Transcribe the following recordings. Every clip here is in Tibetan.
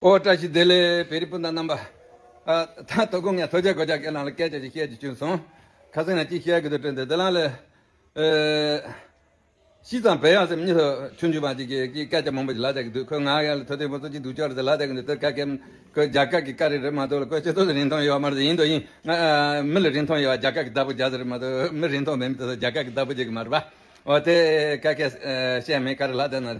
ཨོ་བཀྲ་ཤིས་བདེ་ལེགས་བེ་རི་སྤུན་ཟླ་རྣམ་པ། ད་ད་ཀུན་ངས་ཐོས་བྱ་གོ་བྱ་ཁྱེད་རང་ལ་སྐད་ཆ་ཞིག་བཤད་རྒྱུ་བྱུང་སོང། ཁ་སང་ཡང་ཅིག་བཤད་དགོས་དུ་བྲོས་འདུག་དེ་ལ་ལས། ཤིས་ཙང་བལ་ཡང་སེམས་གཉིས་སུ་ཆུང་ཆུང་བ་ཅིག་གིས་ཀྱིས་སྐད་ཆ་མང་པོ་ཞིག་ལ་རྒྱག་གི་འདུག་ཁོས་ང་ཡར་ལ་ཐོས་དོན་པོ་ཚོ་གཅིག་འདུག་ཅོག་རེ་ཟེར་ལ་རྒྱག་གི་འདུག་དེར་ཁ་སྐད། ཁོས་རྒྱ་སྐད་ཀྱི་སྐད་རེ་རེད་མ་གཏོགས་ལ་ཁོས་ཆེ་བསྟོད་ལ་རིན་ཐང་ཡོད་བ་མ་རེད་ཡིན་དུ་ཡིན། མི་ལ་རིན་ཐང་ཡོད་བ་རྒྱ་སྐད་ཀྱི་བདག་པོ་རྒྱ་ཟེར་རེད་མ་གཏོགས་མི་རིན་ཐང་མེད་མི་དེ་ཚོ་རྒྱ་སྐད་ཀྱི་བདག་པོ་བྱེད་ཀྱི་མ་རེད་པ། ཨོ་དེ་ཁ་སྐད་བཤད་མེད་ག་རེ་ལ་དེ་ན།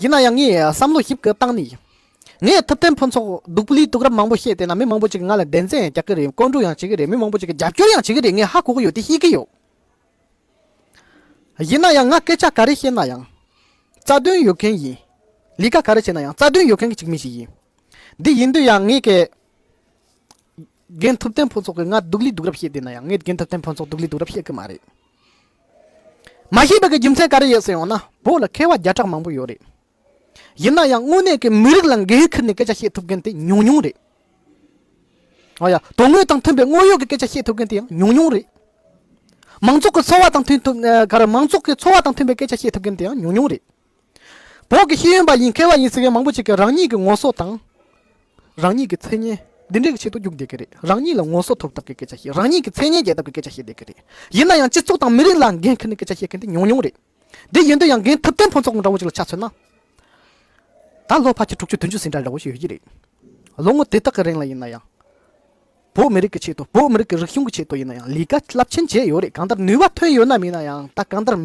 ཡིན་ན་ཡང་ངས་བསམ་བློ་ཞིབ་ཀྱིས་བཏང་ནས་ངའི་ཐུབ་བསྟན་ཕུན་ཚོགས་སྡུག་པོ་ལུས་སྡུག་རབས་མང་པོ་བཤད་དེ་ན་མི་མང་པོ་ཅིག་ང་ལ་བདེན་རྫན་ཡང་རྒྱག་གི་རེད་བརྐོ་འདྲུ་ཡང་བྱེད་ཀྱི་རེད་མི་མང་པོ་ཅིག་གིས་རྒྱབ་སྐྱོར་ཡང་བྱེད་ཀྱི་རེད་ངས་ཧ་གོ་གི་ཡོད་དེ་ཤེས་ཀྱི་ཡོད། ཡིན་ན་ཡང་ང་སྐད་ཆ་ག་རེ་བཤད་ན་ཡང་རྩ་དོན་ཡོད་མཁན་ཡིན། ལས་ཀ་ག་རེ་བྱས་ན་ཡང་རྩ་དོན་ཡོད་མཁན་གྱི་མི་ཞིག་ཡིན། འདི་ཡིན་དུས་ཡང་ངས་ཀྱི་རྒན་ཐུབ་བསྟན་ཕུན་ཚོགས་ཀྱིས་ང་སྡུག་ལུས་སྡུག་རབས་བཤད་དེ་ན་ཡང་ངས་རྒན་ཐུབ་བསྟན་ཕུན་ཚོགས་སྡུག་ལུས་སྡུག་རབས་བཤད་ཀྱི་མ་རེད། མ་ཤེས་པ་གི་རྒྱུ་མཚན་ག་རེ་ཡོད་ཟེར་ཡོང་ན་བོད་ལ་མཁས་བ་བརྒྱ་ཕྲག་མང་པོ་ཡོད་རེད། ཡིན་ན་ཡང་དངོས་གནས་ཀྱི་མི་རིགས་ལ་འགན་ཁུར་ནས་སྐད་ཆ་བཤད་ཐུབ་མཁན་དེ་ཉུང་ཉུང་རེད། ཨོ་ཡ། དོན་དངོས་དང་མཐུན་པའི་དངོས་ཡོད་ཀྱི་སྐད་ཆ་བཤད་ཐུབ་མཁན་དེ་ཡང་ཉུང་ཉུང་རེད། མང་ཚོགས་ཀྱི་འཚོ་བ་དང་མཐུན་ཐུབ། མང་ཚོགས་ཀྱི་འཚོ་བ་དང་མཐུན་པའི་སྐད་ཆ་བཤད་ཐུབ་མཁན་དེ་ཡང་ཉུང་ཉུང་རེད། བོགས་ཀྱི་ཤེས་ཡོན་པ་ཡིན་མཁས་པ་ཡིན་ཟེར་མཁན་མང་པོ་ཅིག་གིས་རང་ཉིད་ཀྱི་ངོ་སོ་དང། རང་ཉིད་ཀྱི་མཚན་སྙན། འདི་འདྲའི་ཆེད་དུ་རྒྱུགས་བསྡད་ཀྱི་རེད། རང་ཉིད་ལ་ངོ་སོ་ཐོབ་ཐབས་ཀྱི་སྐད་ཆ་བཤད། རང་ཉིད་ཀྱི་མཚན་སྙན་རྒྱས་ཐབས་ཀྱི་སྐད་ཆ་བཤད་བསྡད་ཀྱི་རེད། ཡིན་ན་ཡང་སྤྱི་ཚོགས་དང་མི་རིགས་ལ་འགན་འཁུར་ནས་སྐད་ཆ་བཤད་མཁན་དེ་ཉུང་ཉུང་རེད། དེ་ཡིན་དུས་ཡང་འགན་ཐུབ་བསྟན་ཕུན་ཚོགས་འདྲ་བོ་ཅིག་ལ་ཆ་མཚོན་ན། ད་ལོ་ཕ་ཁྱི་དྲུག་ཅུ་བདུན་ཅུ་ཟིན་གྲྭ་འདྲ་བོ་ཞིག་ཡོད་ཀྱི་རེད། ལོ་ངོ་དེ་དག་གི་རིང་ལ་ཡིན་ན་ཡང། བོད་མི་རིགས་ཀྱི་ཆེད་དུ་བོད་མི་རིགས་ཀྱི་རིག་གཞུང་གི་ཆེད་དུ་ཡིན་ན་ཡང་ལས་ཀ་རླབས་ཆེན་བྱས་ཡོད་རེད་གང་ལྟར་ནུས་བ་ཐོན་ཡོད་ནམ་མིན་ན་ཡང་ད་གང་ལྟར་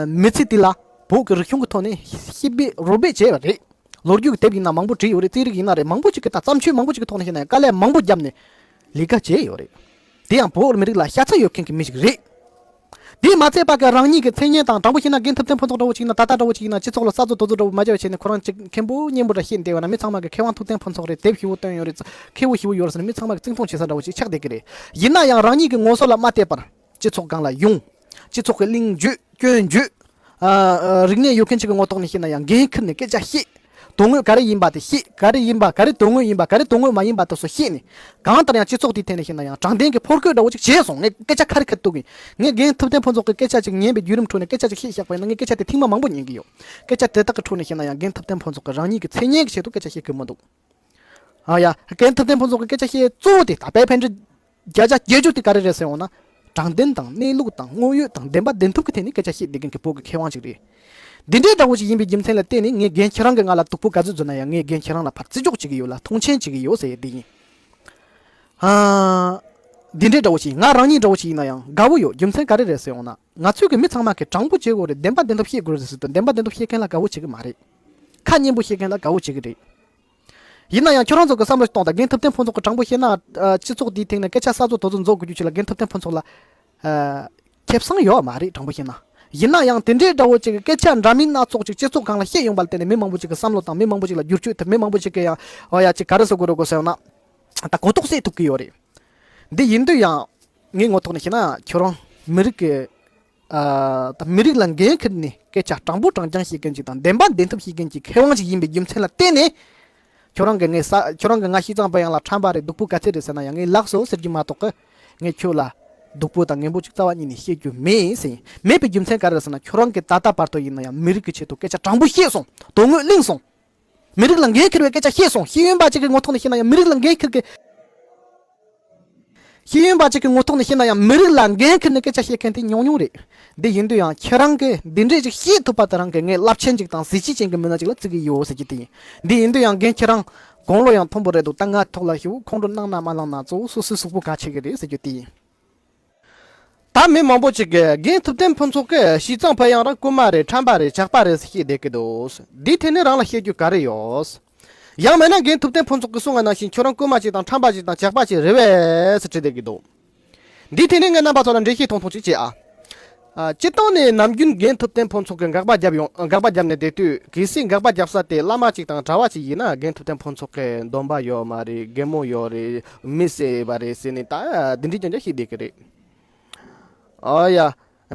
མི་ཚེ་དེ་ལ་བོད་ཀྱི་རིག་གཞུང་གི་ཐོག་ནས་ཤི་འབད་རོ་འབད་བྱས་པ་རེད། ལོ་རྒྱུས་ཀྱི་དེབ་ཡིན་ན་མང་པོ་བྲིས་ཡོད་རེད་རྩིས་རིག་ཡིན་ན་རེད་མང་པོ་ཅིག་གི་ད་བརྩམས་ཆོས་མང་པོ་ཅིག་གི་ཐོག་ནས་བཤད་ན་ཡང་དཀའ་ལས་མང་པོ་བརྒྱབ་ནས་ལས་ཀ་བྱས་ཡོད་རེད། དེ་ཡང་བོད་མི་རིགས་ལ་ཤ་ཚ་ཡོད་མཁན་གྱི་མི་ཞིག་རེད། དེས་མ་ཚད་པར་ཀྱང་རང་ཉིད་ཀྱི་མཚན་སྙན་དང་དང་པོ་ཤེས་ན་རྒན་ཐུབ་བསྟན་ཕུན་ཚོགས་འདྲ་བོ་ཅིག་ཡིན་ན་ད་ལྟ་འདྲ་བོ་ཅིག་ཡིན་ན་སྤྱི་ཚོགས་ལ་གསར་བཟོ་རྡོ་བཟོ་འདྲ་བོ་མ་བྱས་པ་བྱས་ནས་ཁོ་རང་ཅིག་མཁན་པོ་སྙན་པོ་འདྲ་ཤེས་བསྡད་པ་ན་མི་ཚང་མ་གི་མཁས་དབང་ཐུབ་བསྟན་ཕུན་ཚོགས་རེད་དེབ་ཞི་བོ་བཏོན་ཡོད་རེད་མཁས་བོ་ཞི་བོ་ཡོད་རེད་ཟེར་ནས་མི་ཚང་མ་གི་རྩིང་མཐོང་བྱེད་ས་འདྲ་བོ་ཅིག་ཆགས་བསྡད་ཀྱི་རེད། ཡིན་ན་ཡང་རང་ཉིད་ཀྱི་ངོ་སོ་ལ་མ་བལྟས་པར། སྤྱི་ཚོགས་སྒང་ལ་ཡོང། སྤྱི་ཚོགས་ཀྱི་གླེང་བརྗོད་སྐྱོན་བརྗོད། རིག་གནས་ཡོད་མཁན་ཞིག་གི་ངོ་ཐོག་ནས་བཤད་ན་ཡང་འགན་ཁུར་ནས་སྐད་ཆ་བཤད། དོན་དངོས་ག་རེ་ཡིན་པ་དེ་བཤད་ག་རེ་ཡིན་པ་ག་རེ་དོན་དངོས་ཡིན་པ་ག་རེ་དོན་དངོས་མ་ཡིན་པ་དེ་སོགས་བཤད་ནས། གང་ལྟར་ཡང་སྤྱི་ཚོགས་དེའི་ཐད་ནས་བཤད་ན་ཡང་དྲང་བདེན་གྱི་ཕོར་རྒོད་འདྲ་བོ་ཅིག་བྱས་སོང་ངས་སྐད་ཆ་ཁ་རི་ཁ་རི་གཏུག་གིན། ངས་རྒན་ཐུབ་བསྟན་ཕུན་ཚོགས་ཀྱི་སྐད་ཆ་ཅིག་ཉན་པའི་བརྒྱུད་རིམ་ཁྲོད་ནས་སྐད་ཆ་ཅིག་བཤད་བཞག་པ་ཡིན་ན་ངས་སྐད་ཆ་དེ་ཐེངས་མ་མང་པོ་ཉན་གི་ཡོད། སྐད་ཆ་དེ་དག་གི་ཁྲོད་ནས་བཤད་ན་ཡང་རྒན་ཐུབ་བསྟན་ཕུན་ཚོགས་ཀྱིས་རང་ཉིད་ཀྱི་མཚན་སྙན་གྱི་ཆེད་དུ་སྐད་ཆ་བཤད་གི་མི་འདུག། ཡ། རྒན་ཐུབ་བསྟན་ཕུན་ཚོགས་ཀྱི་སྐད་ཆ་བཤད་གཙོ་བོ་དེ་ད་ལྟའི་འཕེལ་འགྲིབ། བརྒྱ་ཆ་བརྒྱད་ཅུ་དེ་ག་རེ་རེད་ཟེར་འོང་ན། དྲང་བདེན་དང་གནས་ལུགས་དང་དངོས་ཡོད་དང་བདེན་པ་བདེན་ཐུབ་ཀྱི་ཐད་ནས་སྐད་ཆ་བཤད་བསྡད་མཁན་གྱི་བོད་ཀྱི་མཁས་དབང་ཞིག་རེད། འདི་འདྲའི་འདྲ་བོ་ཞིག་ཡིན་པའི་རྒྱུ་མཚན་ལ་བརྟེན་ནས་ངས་རྒན་ཁྱེད་རང་གི་ང་ལ་སྡུག་པོ་ག་ཚོད་བཟོས་ན་ཡང་ངས་རྒན་ཁྱེད་རང་ལ་ཕར་བརྩི་འཇོག་བྱེད་ཀྱི་ཡོད་ལ་མཐོང་ཆེན་བྱེད་ཀྱི་ཡོད་ཟེར་ཡས་དེ་ཡིན། འདི་འདྲའི་འདྲ་བོ་ཞིག་ང་རང་ཉིད་འདྲ་བོ་ཞིག་ཡིན་ན་ཡང་དགའ་བོ་ཡོད་རྒྱུ་མཚན་ག་རེ་རེད་ཟེར་འོང་ན། ང་ཚོས་གི་མི་ཚང་མ་གི་དྲང་པོ་བྱེད་དགོས་རེད་བདེན་པ་བདེན་ཐོབ་བཤད་དགོས་རེད་ཟེར་དུས་བདེན་པ་བདེན་ཐོབ་བཤད་མཁན་ལ་དགའ་བོ་བྱེད་གི་མ་རེད། ཁ་སྙན་པོ་བཤད་མཁན་ལ་དགའ་བོ་བྱེད་གི་རེད། ཡིན་ན་ཡང་ཁྱོད་རང་ཚོ་གི་བསམ་བློ་གཏོང་དང་རྒན་ཐུབ་བསྟན་ཕུན་ཚོགས་གི་དྲང་པོ་བཤད་ན་སྤྱི་ཚོགས་འདིའི་སྟེང་ནས་སྐད་ཆ་གསར་བཟོ་དོ་བཟོ་འཛོག་དགོས་རྒྱུ་ཆེ་ལ་རྒན་ཐུབ་བསྟན་ཕུན་ཚོགས་ལ་ཁེབས་སང་ཡོད་མ་རེད་དྲང་པོ་བཤད་ན། ཡིན་ན་ཡང་དེ་འདྲའི་དགྲ་བོ་ཅིག་གི་སྐད་ཆ་འདྲ་མིན་སྣ་ཚོགས་ཅིག་སྤྱི་ཚོགས་གང་ལ་བཤད་ཡོང་པ་ལ་བརྟེན་ནས་མི་མང་པོ་ཅིག་གི་བསམ་བློ་དང་མི་མང་པོ་ཅིག་ལ་བསྒྱུར་བཅོས་ཐེབས་མི་མང་པོ་ཅིག་གི་ཡང་ཡ་གཅིག་ག་རེ་བཟོ་དགོས་རོགས་གོ་ཟེར་ཡོང་ན། ད་གོ་རྟོགས་སད་ཐུབ་གི་ཡོད་རེད། འདི་ཡིན་དུས་ཡང། ངའི་ངོ་ཐོག་ནས་བཤད་ན་ཁྱོད་རང་མི་རིགས་ཀྱི་དང་མི་རིགས་ལ་འགན་ཁུར་ནས་སྐད་ཆ་དྲང་པོ་དྲང་རྐྱང་བཤད་མཁན་ཞིག་དང་བདེན་པ་བདེན་ཐུབ་བཤད་མཁན་གྱི་མཁས་དབང་ཞིག་ཡིན་པའི་རྒྱུ་མཚན་ལ་བརྟེན་ནས། ཁྱོད་རང་གི་ངས་ས་ཁྱོད་རང་གི་ང་ཤི་ཙང་པ་ཡང་ལ་ཁྲམ་པ་རེད་སྡུག་པོ་ག་ཚད་རེད་ཟེར་ན་ཡང་ངས་ལགས་སོ་ཟེར་རྒྱུ་མ་གཏོགས། ངས་ཁྱོད་ལ་སྡུག་པོ་དང་ངན་པོ་གཅིག་རྩ་བ་གཉིས་ནས་བཤད་རྒྱུ་མེད་ཟེར་མེད་པའི་རྒྱུ་མཚན་ག་རེད་ཟེར་ན་ཁྱོད་རང་གིས་ད་ལྟ་བར་དུ་ཡིན་ན་ཡང་མི་རིགས་ཀྱི་ཆེད་དུ་སྐད་ཆ་དྲང་པོ་བཤད་སོང་དོན་དངོས་གླེང་སོང། མི་རིགས་ལ་འགན་འཁྱེར་བའི་སྐད་ཆ་བཤད་སོང་ཤེས་ཡོན་པ་གཅིག་གི་ངོ་ཐོག་ནས་བཤད་ན་ཡང་མི་རིགས་ལ་འགན་འཁྱེར་གི། ཤེས་ཡོན་པ་གཅིག་གི་ངོ་ཐོག་ནས་བཤད་ན་ཡང་མི་རིགས་ལ་འགན་འཁྱེར་ནས་སྐད་ཆ་བཤད་མཁན་དེ་ཉུང་ཉུང་རེད། དེ་ཡིན་དུས་ཡང་ཁྱེད་རང་གིས་འདི་འདྲས་ཅིག་བཤད་ཐུབ་པ་དེ་རང་གིས་ངའི་རླབས་ཆེན་གཅིག་དང་གཟི་བརྗིད་ཅན་གྱི་མི་སྣ་གཅིག་ལ་བརྩི་གི་ཡོད་ཟེར་གྱི་དེ་ཡིན། འདི་ཡིན་དུས་ཡང་རྒན་ཁྱེད་རང། དགུང་ལོ་ཡང་མཐོན་པོ་རེད་འདུག་ད་ང་ཐོག་ལ་ཞུ་ཁོང་ཁྲོ་གནང་ན་མ་གནང་ན་གཙོ་བོ་སོ་སོའི་གཟུགས་པོ་ག་ཆེ་གི་རེད་ཟེར་རྒྱུ་དེ་ཡིན། ད་མི་མང་པོ་ཅིག་གིས་རྒན་ཐུབ་བསྟན་ཕུན་ཚོགས་ཀྱིས་ཞིས་ཙང་ཕེ་ཡང་རང་རྐུན་མ་རེད་ཁྲམ་པ་རེད་ཇག་པ་རེད་ཟེར་ཤེས་བསྡད་ཀྱི་འདུག་འདིའི་ཐད་ནས་རང་ལ་བཤད་རྒྱུ་ག་རེ་ཡོད། ཡང་མེད་ན་རྒན་ཐུབ་བསྟན་ཕུན་ཚོགས་ཀྱིས་གསུང་བ་ནང་བཞིན་ཁྱོད་རང་རྐུན་མ་ཅིག་དང་ཁྲམ་པ་ཅིག་དང་ཇག་པ་ཅིག་རེད་བས་ཟེར་བྲིས་བསྡད་ཀྱི་འདུག་འདིའི་ཐད་ནས་ངས་རྣམ་པ་ཚོ་ལ་འགྲེལ་བཤད་ཐུང་ཐུང་ཅིག་བྱེད་ཨ། སྤྱི་བཏང་ནས་ནམ་རྒྱུན་རྒན་ཐུབ་བསྟན་ཕུན་ཚོགས་ཀྱིས་འགག་པ་བརྒྱབ་ཡོང་འགག་པ་བརྒྱབ་ནས་བསྡད་དུས་གལ་སྲིད་འགག་པ་བརྒྱབ་ས་དེ་བླ་མ་གཅིག་དང་གྲྭ་བ་གཅིག་ཡིན་ན་རྒན་ཐུབ་བསྟན་ཕུན་ཚོགས་ཀྱི་སྡོམ་པ་ཡོད་མ་རེད་རྒན་མོ་ཡོད་རེད་མི་བསད་པ་རེད་ཟེར་ནས་ད་འདི་འདྲའི་སྐྱོན་ཆ་ཤེས་བསྡད་ཀྱི་རེད། ཨ་ཡ།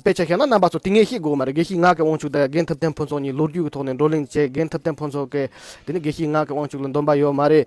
དཔེ་ཆ་ཤེས་ན་རྣམ་པ་ཚོ་དེ་ངས་ཤེས་དགོས་མ་རེད་དགེ་བཤེས་ངག་གི་དབང་ཕྱུག་དང་རྒན་ཐུབ་བསྟན་ཕུན་ཚོགས་གཉིས་ལོ་རྒྱུས་ཀྱི་ཐོག་ནས་བགྲོ་གླེང་བྱས་རྒན་ཐུབ་བསྟན་ཕུན་ཚོགས་ཀྱིས་དེ་ནི་དགེ་བཤེས་ངག་གི་དབང་ཕྱུག་ལ་འདོམས་པ་ཡོད་མ་རེད།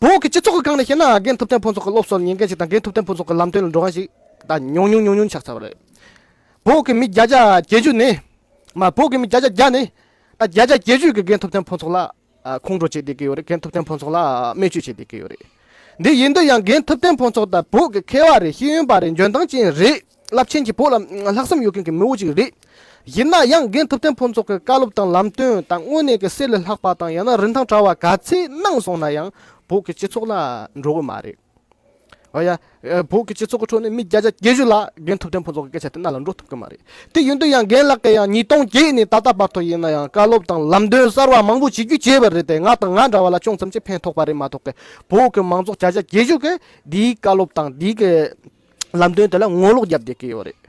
བོད་ཀྱི་སྤྱི་ཚོགས་ཀྱི་སྒང་ནས་བཤད་ན་རྒན་ཐུབ་བསྟན་ཕུན་ཚོགས་ཀྱི་སློབ་གསོར་ཉན་མཁན་ཞིག་དང་རྒན་ཐུབ་བསྟན་ཕུན་ཚོགས་ཀྱི་ལམ་སྟོན་ལ་འགྲོ་མཁན་ཞིག་ད་ཉུང་ཉུང་ཉུང་ཉུང་ཆགས་ཚར་བ་རེད། བོད་ཀྱི་མི་བརྒྱ་ཆ་བརྒྱད་ཅུ་ནི། མ་བོད་ཀྱི་མི་བརྒྱ་ཆ་བརྒྱ་ནི། ད་བརྒྱ་ཆ་བརྒྱད་ཅུས་ཀྱིས་རྒན་ཐུབ་བསྟན་ཕུན་ཚོགས་ལ་ཁོང་ཁྲོ་བྱེད་བསྡད་ཀྱི་ཡོད་རེད་རྒན་ཐུབ་བསྟན་ཕུན་ཚོགས་ལ་སྨད་བཅོས་བྱེད་བསྡད་ཀྱི་ཡོད་རེད། འདི་ཡིན་དུས་ཡང་རྒན་ཐུབ་བསྟན་ཕུན་ཚོགས་ད་བོད་ཀྱི་མཁས་བ་རེད་ཤེས་ཡོན་པ་རེད་འཇོན་ཐང་ཅན་རེད། རླབས་ཆེན་གྱི་བོད་ལ་ལྷག་བསམ་ཡོད་མཁན་གྱི་མི་བོ་ཅིག་རེད། ཡིན་ན་ཡང་རྒན་ཐུབ་བསྟན་ཕུན་ཚོགས་ཀྱི་བཀའ་སློབ་དང་ལམ་སྟོན་དང་དངོས་གནས་ཀྱི་གསེར་ལས་ལྷག་པ་དང་ཡང་ན་རིན་ཐང་བྲལ་བ་ག་ཚད་གནང་སོང་ན་ཡང་བོད་ཀྱི་སྤྱི་ཚོགས་ལ་འགྲོ་གི་མ་རེད། ཨོ་ཡ། བོད་ཀྱི་སྤྱི་ཚོགས་ཀྱི་ཁྲོད་ནས་མི་བརྒྱ་ཆ་བརྒྱད་བཞི་ལ་རྒན་ཐུབ་བསྟན་ཕུན་ཚོགས་ཀྱི་སྐད་ཆ་དེ་རྣ་ལ་འགྲོ་ཐུབ་ཀྱི་མ་རེད། དེ་ཡིན་དུས་ཡང་རྒན་ལགས་ཀྱིས་ཡང་ཉིས་སྟོང་བརྒྱད་ནས་ད་ལྟ་བར་དུ་ཡིན་ན་ཡང་བཀའ་སློབ་དང་ལམ་སྟོན་གསར་བ་མང་པོ་བྱེད་རྒྱུ་བྱས་པ་རེད་དེ་ང་དང་ང་འདྲ་བ་ལ་ཅུང་ཙམ་གྱིས་ཕན་ཐོགས་པ་རེད་མ་གཏོགས་ཀྱི་བོད་ཀྱི་མང་ཚོགས་བརྒྱ་ཆ་བརྒྱད་ཅུ་གིས་འདིའི་བཀའ་སློབ་དང་འདིའི་ལམ་སྟོན་དེ་ལ་ངོ་ལོག་བརྒྱབ་དགོས་ཀྱི་ཡོད་རེད།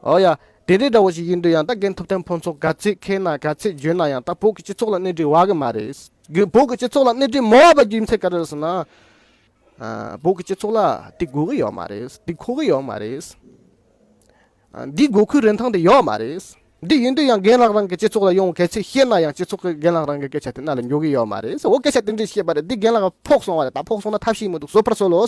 ཨོ་ཡ། དེ་འདྲའི་འདྲ་བོ་ཞིག་ཡིན་དུས་ཡང་ད་གིན་ཐུབ་བསྟན་ཕུན་ཚོགས་ག་ཚོད་མཁས་ན་ག་ཚོད་འཇོན་ན་ཡང་ད་བོད་ཀྱི་སྤྱི་ཚོགས་ལ་སྣེ་འཁྲིད་དབའ་གི་མ་རེད། བོད་ཀྱི་སྤྱི་ཚོགས་ལ་སྣེ་འཁྲིད་མི་དབའ་བ་རྒྱུ་མཚན་ག་རེ་རེད་ཟེར་ན། བོད་ཀྱི་སྤྱི་ཚོགས་ལ་དེ་དགོས་གི་ཡོད་མ་རེད། དེ་མཁོ་གི་ཡོད་མ་རེད། འདི་དགོས་མཁོའི་རིན་ཐང་དེ་ཡོད་མ་རེད། འདི་ཡིན་དུས་ཡང་རྒན་ལགས་རང་གི་སྤྱི་ཚོགས་ལ་ཡོང་ག་ཚོད་ཤེས་ན་ཡང་སྤྱི་ཚོགས་ཀྱི་རྒན་ལགས་རང་གི་སྐད་ཆ་དེ་རྣ་ལ་འཇོག་གི་ཡོད་མ་རེད། འོ་སྐད་ཆ་དེ་འདྲའི་བཤད་པ་རེད་འདི་རྒན་ལགས་ཕོག་སོང་བ་རེད་ད་ཕོག་སོང་ན་ཐབས་ཤེས་མི་འདུག་བཟོད་པར་གསོལ་ལོ།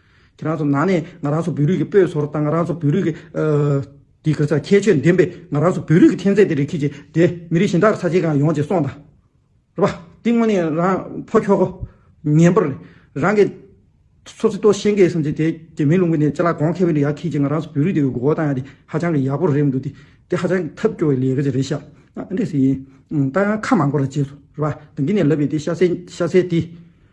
ཁྱེད་རང་ཚོ་ནང་ནས་ང་རང་ཚོ་བོད་རིགས་ཀྱི་སྤོས་བཟོ་རོགས་དང་ང་རང་ཚོ་བོད་རིགས་ཀྱི་ཁྱད་ཆོས་ལྡན་པའི་ང་རང་ཚོ་བོད་རིགས་ཀྱི་ཐན་རྫས་དེ་རིགས་ཁྱེད་ཀྱི་དེ་མི་རིགས་གཞན་དག་ས་ཆའི་གང་ཡོང་ཅེས་གསུངས་དང། རེད་པ། དེ་དངོས་ནས་རང་ཕོ་ཁྱོ་གོ། ངན་པར། རང་གི། ཚོ་ཚིག་ཏོག་ཤེས་མཁན་སམ་ཅི་དེ་དེ་མིན་ལུང་གི་ནས་ལྕེ་ལ་གོང་ཁེ་བའི་ཡ་ཁྱེད་ཀྱི་ང་རང་ཚོ་བོད་རིགས་དེ་གི་འགོ་བ་བཏང་ཡ་དེ་ཧ་ཅང་གི་ཡག་པོ་རེད་མི་འདུག་དེ་དེ་ཧ་ཅང་གི་ཐབས་སྐྱོ་བའི་ལས་ཀ་ཅིག་རེད་ཤག་ཨ་འདྲེ་ཟེར་ཡིན། ཏང་ཡང་ཁ་མང་པོ་ར་བྱས་སོ་རེད་པ། དེང་གི་ནས་ལབ་པའི་དེ་ཤ་ཟས་ཤ་ཟས་དེ།